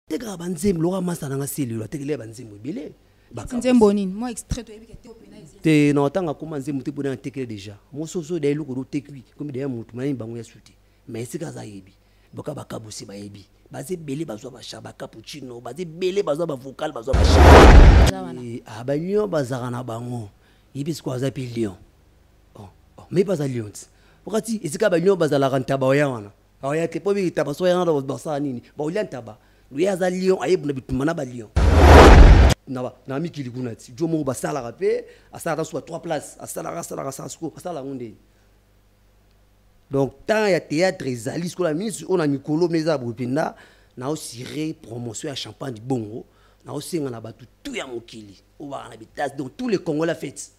tekaka banzembo lokola masta na nga selilo atekeli ya banzembo ebele nzembo nini mwa extrait toyebi ke te opena te na otanga akoma nzembo te mpona atekele déjà mososo da eloko dotekwi komi daya motu mayini bango ya sute ma esika aza ayebi boka bakabusi bayebi baza ebele bazwa basha bacapuccino baza ebele bazwa bavocal bazwa basha eh, ah, balion bazalaka na bango yebi sikoyo aza mpe lion oh, oh, me mpe aza lion ti okati esika balion bazalaka ntaba oya wana aoya te mpo bitaba so yana basala nini baolia ntaba loye aza lion ayebuna bitumba na balion na mikili kuna ti jo moko basalaka mpe asalaka suka trois place asalaka asalaka asala suko asala yango ndeni donc temps ya théâtre ezali sikola minisi oyo na mikolo mpe eza boye mpenza naosire promotion ya champagne bongo naosenga na bato tu ya mokili oyo baka na bitase donc tous les congolais fete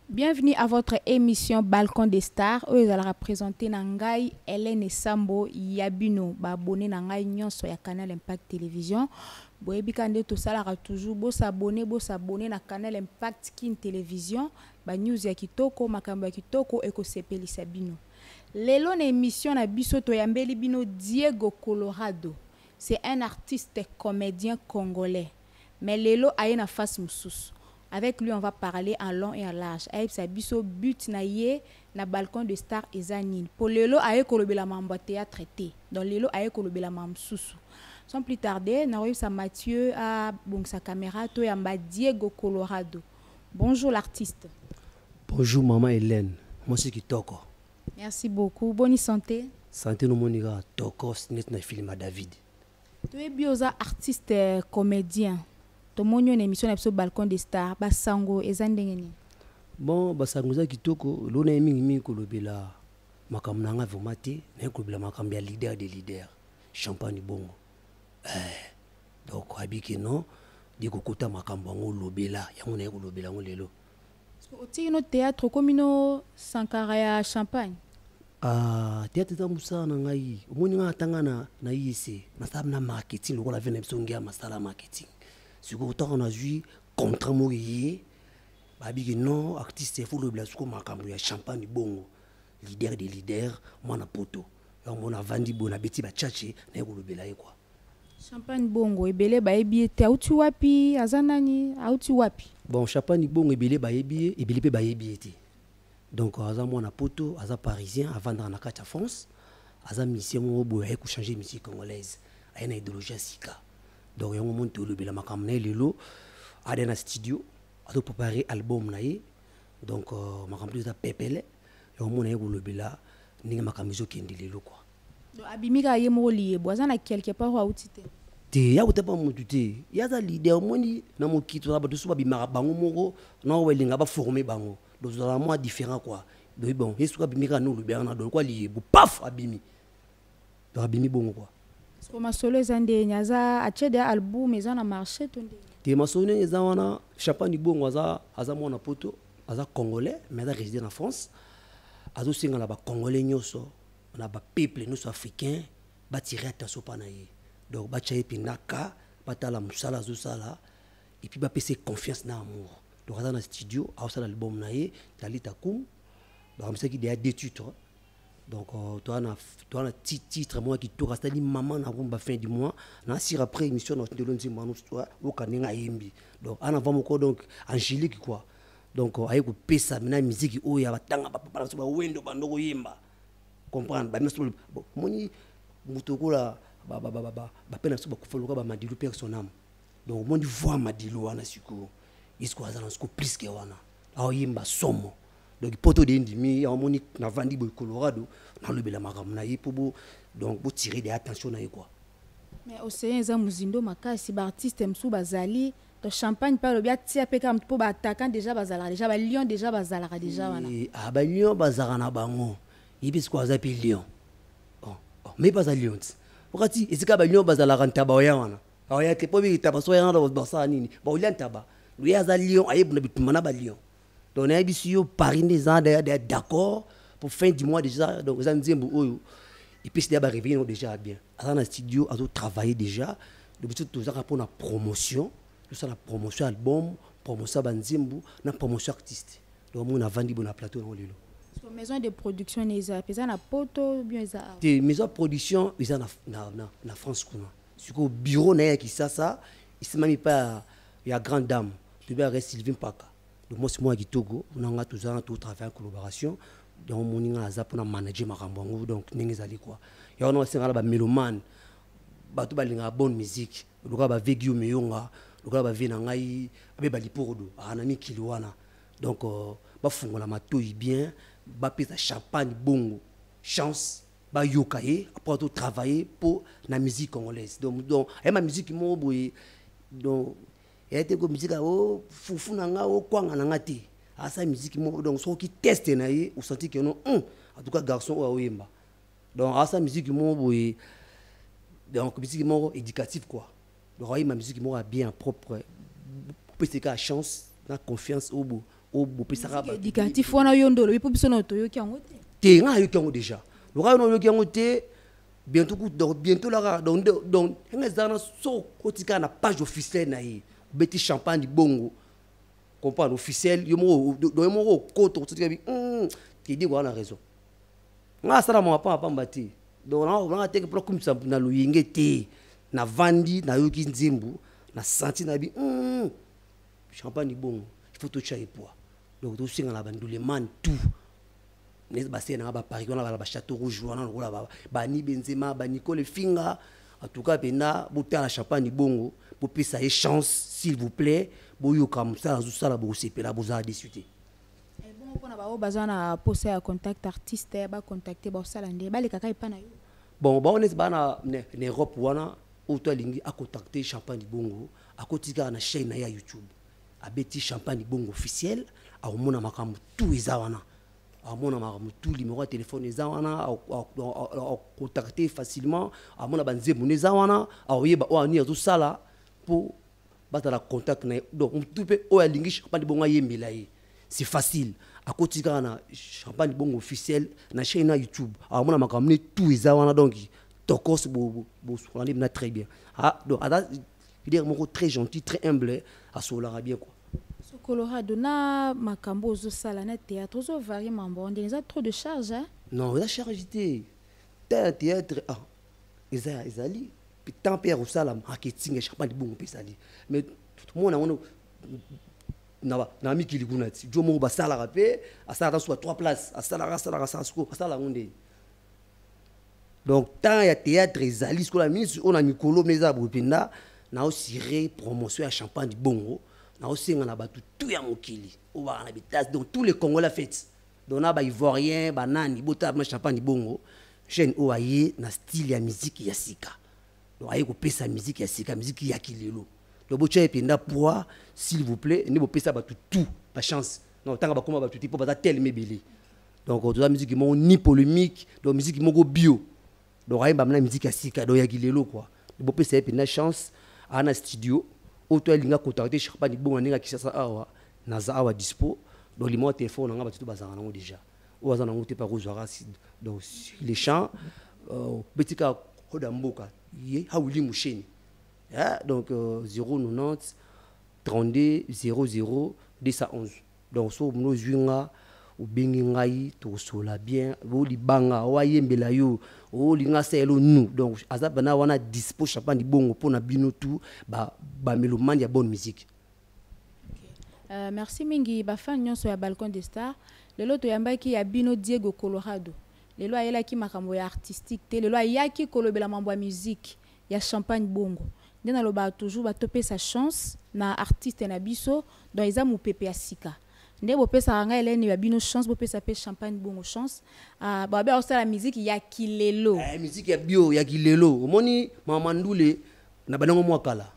Bienvenue à votre émission Balcon des Stars oyo ezalaka présentée na ngai Hélène Sambo ya bino ba abonné na ngai nyonso ya Canal Impact Télévision boyebi ka nde tosalaka toujours bo s'abonner bo s'abonner na Canal Impact Kin Télévision ba news ya kitoko makambo ya kitoko ekosepelisa bino lelo na émission na biso toyambeli bino Diego Colorado c'est un artiste comédien congolais mais lelo aye na face mususu avec lui on va parler en long et en large ayebisa biso but na ye na balcon de star eza nini po lelo aye kolobela mambo ya theatre te donc lelo aye kolobela ma mususu sans plus tarder nakoyebisa Mathieu abongisa camera to yamba Diego Colorado bonjour l'artiste bonjour maman Hélène mwasi kitoko merci beaucoup boni santé santé nomoni kaka tokos neti na filima david toyebi oza artiste euh, comedien tomoni yo na émission na biso balcon de star basango eza ndenge nini bon basango eza kitoko elona ye mingimingi kolobela makambo na ngai vraimen te naye kolobela makambo ya leader de leader champagne bongo eh, donc abike non de kokota makambo yango olobela yango naye kolobela yango lelo otiki no théâtre okomi no sankara ya champagne ah, théâtre eza mosala na ngai omoni ngai atanga na, na iec nasala na marketing lokola vena biso ngia masala marketing sikoyo ntango nazwi contrat moko eye babiki non artiste efo lobela siko makambo ya champagne bongo leader de leader mwana poto yango mona avandi boye nabeti bachache naye kolobela ye kua Champagne Bongo ebele bayebi ye te auti wapi aza nani auti wapi Bon Champagne Bongo ebele bayebi ye ebele mpe bayebi ye te donc aza mwana poto aza parisien avandaka na kati ya France aza musicien moko boye aye kochanger musique congolaise aye na idéologie ya sika donc yango moni tolobela makambo na ye lelo ada na studio azoprepare album na ye donc euh, makambo eza pepele yango mona ye kolobela ndenge makambo ezokende lelo kua Donc abimi kaka ye moko liyebo aza na quelque part oyo auti te. te ya kotapa motu te ye aza leader omoni na mokili tozala bato so babimaka bango moko na oyo balinga baforme bango donc tozala mwa différent kua donc bon ye soki abimi kaka nolubi wana donc kua liyebo paf abimi donc abimi bongo kua soko masolo eza ndeni aza atie deya album eza na marché to ndeni te masolo ndenge eza wana chapan libongo aza, aza mwana poto aza congolais mais aza résidé na france azosenga na bacongolais nyonso na ba peuple nyonso africain batire attention mpa na ye donc batya ye mpenza ka batala mosala azosala epuis bapesa ye confiance na amour donc aza na studio aosala album na ye talita kum bakamisaki deya deux titre donc euh, toa na titre moko ya kitoko asali mama na rumba fin du mois na sur après émission na otindelo nzembo wana oyoka ndenge ayembi donc ana va moko donc angélique quoi donc euh, aye kopesa mina miziki oyo ya batanga bapapa na biso bawendo bando koyemba comprendre bamesi moni moto okola bape na biso bakufa loka bamadilu père son âme donc omoni voi madilu wana sikoyo yesuko aza na siko plus ke wana aoyemba somo donc poto de ndimi amoni navandi boye colorado nalobela makambo na ye mpo bo donc botire de attention na ye kua mais ocean eza mozindo makasi baartiste mosusu bazali Donc champagne pe alobi atia pe kaka mpo baattaquant déjà bazalaka déjà balion déjà bazalaka déjà wana Eh, ah, balion bazalaka na bango ye mpe sikoyo aza mpe lion Oh, oh, me mpe aza lion ti okati esika balion bazalaka ntaba oya wana aoya te mpo biki ntaba so oya wana basala nini baolia ntaba loye aza lion ayebuna bitumba na balion donc nayebisi yo paris nde eza d'accord pour fin du mois déjà donc eza nzembo oyo epesi deya bareveille yango déjà ya bien aza na studio azotravaille déjà donc biso tozaka mpo na promotion tosala promotion ya album promotion ya banzembo na promotion artiste donc omona avandi bo na plateau yango lelo maison de production na eza mpe eza na poto bien eza te maison ya production eza na, na, na, na france kuna sikoyo bureau na ye ya kisasa esimami mpa ya grande dame toyebi ake sylvie mpaka le mwasi moko ya kitoko na ngai tozala na totravaille en collaboration donc omoni ngai aza mpona manager makambo yango donc ndenge ezali kua ya wana osenga na bamélomane bato balingaka bonne musique lokola bave guio meyonga lokola bave na ngai abe balipordo aa na mikili wana donc euh, bafungola matoi bien bapesa champagne bongo chance bayoka ye apres ato travailler mpo na musique congolaise donc donc aye ma musique moko boye donc eya te ko musique o oh, fufu na nga o oh, kwanga na nga te asala musique moko donc soki teste na ye osanti ke no hum, en tout cas garçon oyo aoyemba donc asala musique moko boye donc musique moko éducative quoi Roy ma musique moko bien propre. Pese ka chance na confiance obo obo pesa ka ba. Éducatif wana yo ndolo bipo biso na toyoki yango te. Te nga yoki yango déjà. Loka yo yoki yango te bientôt ku donc bientôt la donc donc nga zana so kotika na page officielle na ye. Beti champagne bongo. Comprendre officiel yo moko do yo moko koto kotika bi. Hum, te dit wana raison. ngai asala mawa pamba pamba te donc nanga teke mpona kumisa na loyenge te navandi nayoki nzembo na santi na bi mm, champagne bongo il faut totya epoa donc tosenga na banduleman tout basele nanga baparis wana bala bachateau rouge wana lokola bani benzema banicole finga en tout cas mpenza botala champagne bongo bopesa ye chance s'il vous plaît boyoka mosala azosala bokosepela bozala desu te ebongo mpona baoyo baza na posa ya contact artiste ya bacontacte baosala nde balekaka epa na yo bon baoyo neti baa na europe wana oyo to alingi acontacte champagne libongo akoti kaka na chaine na ye ya youtube abeti champagne libongo officiel akomona makambo tu eza wana amona makambo tu limero ya telefone eza wana akontacte facilement amona banzembo no eza wana akoyeba oyo anini azosala mpo bazala contact na ye donc motu mpe oyo alingi champagne bongo ayembela ye c'est facile akoti kaka na champagne bongo officiel na chaîne na youtube akomona makambo ne tout eza wana donc tokos bosokola nde bina très bien ah, donc aza leader moko très gentil très humble asololaka bien quoi colorado na makambo ozosala na théâtre ozovarie mambo ndenge eza trop de charge hein? non eza charge te ta théâtre ah, eza ezali temps mpe ya kosala marketing ya champagne bongo mpe ezali mais tomona yango na mikili kuna ti jo moko basalaka mpe asalaka suka trois places asalaka asalaka asala siko asala yango nde donc temps ya théâtre ezali sikola minisi oyo na mikolo mpe eza boye mpenza naosire promotion ya champagne bongo naosenga na bato tu ya mokili oyo baka na bitase donc tous les congolais fete dona ba ivoirien ba nani botala bino champagne bongo jeune oyo aye na style ya miziki ya sika donc aye kopesa miziki ya sika miziki ya kilelo donc botya ye mpenza poids s'il vous plaît nde bopesa bato tout bachance na kotanga bakoma bato te mpo baza teleme ebele donc toza miziki moko ni polémique donc miziki moko bio donc ayemba mna miziki ya sika donc ya kilelo kua bopesa ye mpenza chance aa na studio oyo to alinga contacte charpa libonga ndenge ya kisasa awa naza awa dispo donc limao ya telefone na ngai bato to bazalaka nango déjà oyo aza nango te mpe akozwaka donc sur le champ euh, obeti kaka koda mboka ye hawili musheni eh, donc 090 32 00 211 donc soki omoni ozwi nga obengi ngai tosolola bien o libanga o ayembela yo olinga asa yelo nu donc aza bana wana dispo chapan libongo mpo na bino tu bamelomane ba ya bonne musique Euh, merci mingi bafan nyonso ya balcon de star lelo toyambaki ya bino diego colorado lelo ayelaki makambo ya artistique te lelo ayaki kolobela mambo ya musique ya champagne bongo nde nalobaka toujours ba topesa chance na artiste na biso donc eza mupepe ya sika nde bopesaka ngai elene ya bino chance bopesa pe champagne bongo chance uh, babe akosala miziki ya kilelo eh, miziki ya bio ya kilelo omoni mama ndule na banango mwa kala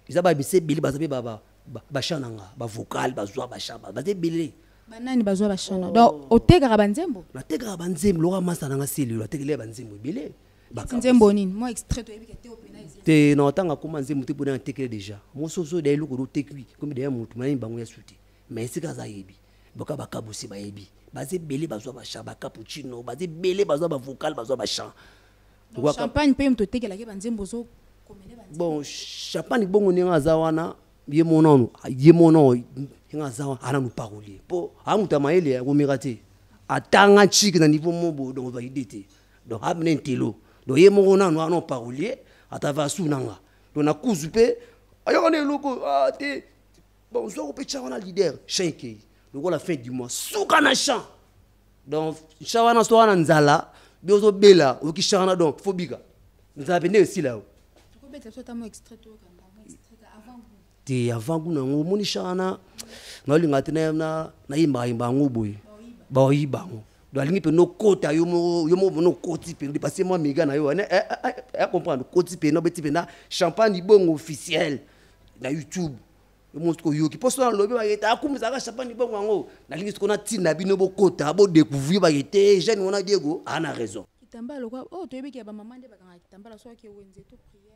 eza babisa ebele baza mpe basha na nga bavokale bazwa basha baza ebele banani bazwa bashana oh. donc otekaka banzembo natekaka banzembo lokola masa na nga selilo atekelea banzembo ebele nzembo nini mwa extrait toyebi ke te opena te na otanga koma nzembo te pona tekele deja moso ozo da eloko do tekui comme deja mutu mani bango ya suti mais sika za yebi boka bakabusi bayebi baza ebele bazwa bachan bacapuccino baza ebele bazwa bavocal bazwa bachan champagne mpe moto otekelaki banzembo ozo bon champagne bongo ndenge aza wana ye mona ono ye mona ndenge aza wana ananu parolier mpo amuta mayele akomeka te atanga ntshiki na niveau mobo donc ozwa ide te donc amene ah, ntelo donc ye moko nanu wana parolier atava asuna nga donc nakuzu mpe ayaka na eloko ah, te bon ozwako mpe tya wana leader champ ekei lokola fin du mois suka na champ donc champ wana so wana nzala bi ozobela oyoki champ wana donc fo bika nzala mpe nde esila yo te avant kuna yango omoni shana naolingaka te nayimbaka yimba yango boye baoyiba yango donc alingi mpe nokota yo moko yo moko nokoti mpe depase mwa mega na yo wana eh, eh, eh, comprendre okoti mpe nobeti mpenza champagne libongo officiel na youtube yo moko soki oyoki mpo soki nalobi bakete akumisaka champagne libongo yango nalingi soki natinda bino bokota bodecouvrir bakete jeune wana diego ana raison kitambala lokola oyo oh, toyebi ke bamama nde bakangaka kitambala soki wenze to priere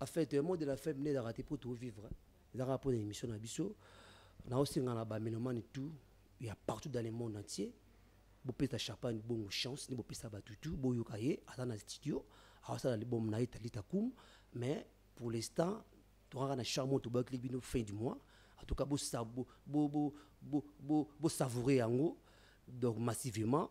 en fait mot de la fin mine ezalaka te mpo tovivre ezalaka mpo na émission na biso naosenga na bamelomane tout ya partout dans le monde entier bopesa champagne bongo chance nde bopesa bato tout boyoka ye aza na studio aosala libomo na ye talita kum mais pour l'instant tokaka na charmo tobakili bino fin du mois en tout cas bosavoure yango donc massivement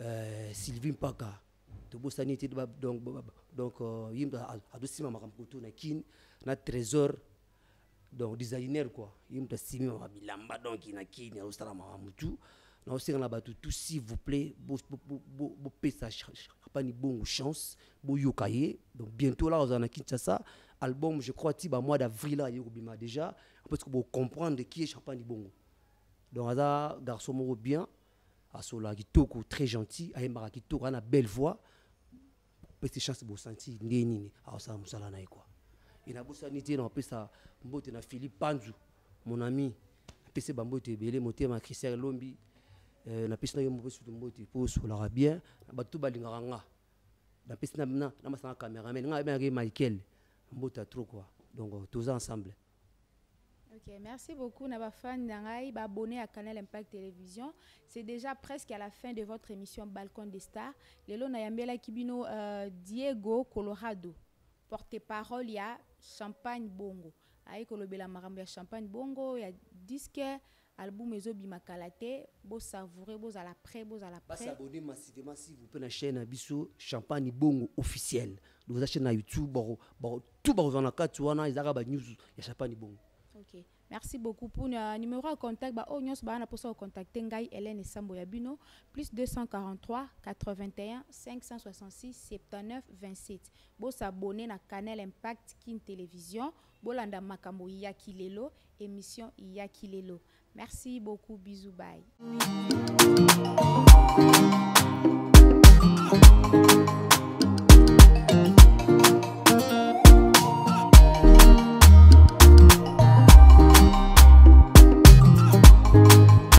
Euh, Sylvie Mpaka tobosani te donc donc euh, yimbe adosima makambo kutu na kin na trésor donc designer quoi ye moto asimi maka bilamba donc na kini azosala maka motu naosenga na bato tout s'il vous plaît bopesa chapani bongo chance boyoka ye donc bientôt la ozala na kinshasa album je crois ti bamois d'avril aye kobima déjà parce que bocomprendre qui est chapani bongo donc aza garçon moko bien asololaka kitoko très gentil ayembaka kitoko ana belle voix pesi chance bosanti ndenge nini aosala mosala na ye kua e nabosani te napesa mbote na philipe panzu mon ami apesi bambote ebele motema christian elombi euh, napesi na yo mopesi to mbote mpo osolaka bien na bato to balingaka nga napesi na masanga cameraman nga abengaki michael mbota trop kua donc toza ensemble Ok, merci beaucoup na ba fans na ngai ba abonné à Canal Impact Télévision. C'est déjà presque à la fin de votre émission Balcon des Stars. Lelo na yambela kibino euh, Diego Colorado, porte-parole ya Champagne Bongo. Aye kolobela makambo ya Champagne Bongo ya disque Album ezo bima kala te bo savourer bo zala près bo zala près. Ba s'abonner massivement s'il vous plaît na chaîne na biso Champagne Bongo officiel. Donc za chaîne na YouTube bako bako tout bako zana kati wana ezaka ba news ya Champagne Bongo. Okay. Merci beaucoup pour euh, numéro de contact. Bah, oh, nyos, bah, pour ça, contacter Ngai Hélène Sambo Yabino, plus 243 81 566 79 27. Bon, s'abonner à Canal Impact Kin Télévision. Bolanda makambo ya kilelo emission ya kilelo. Merci beaucoup bisous bye.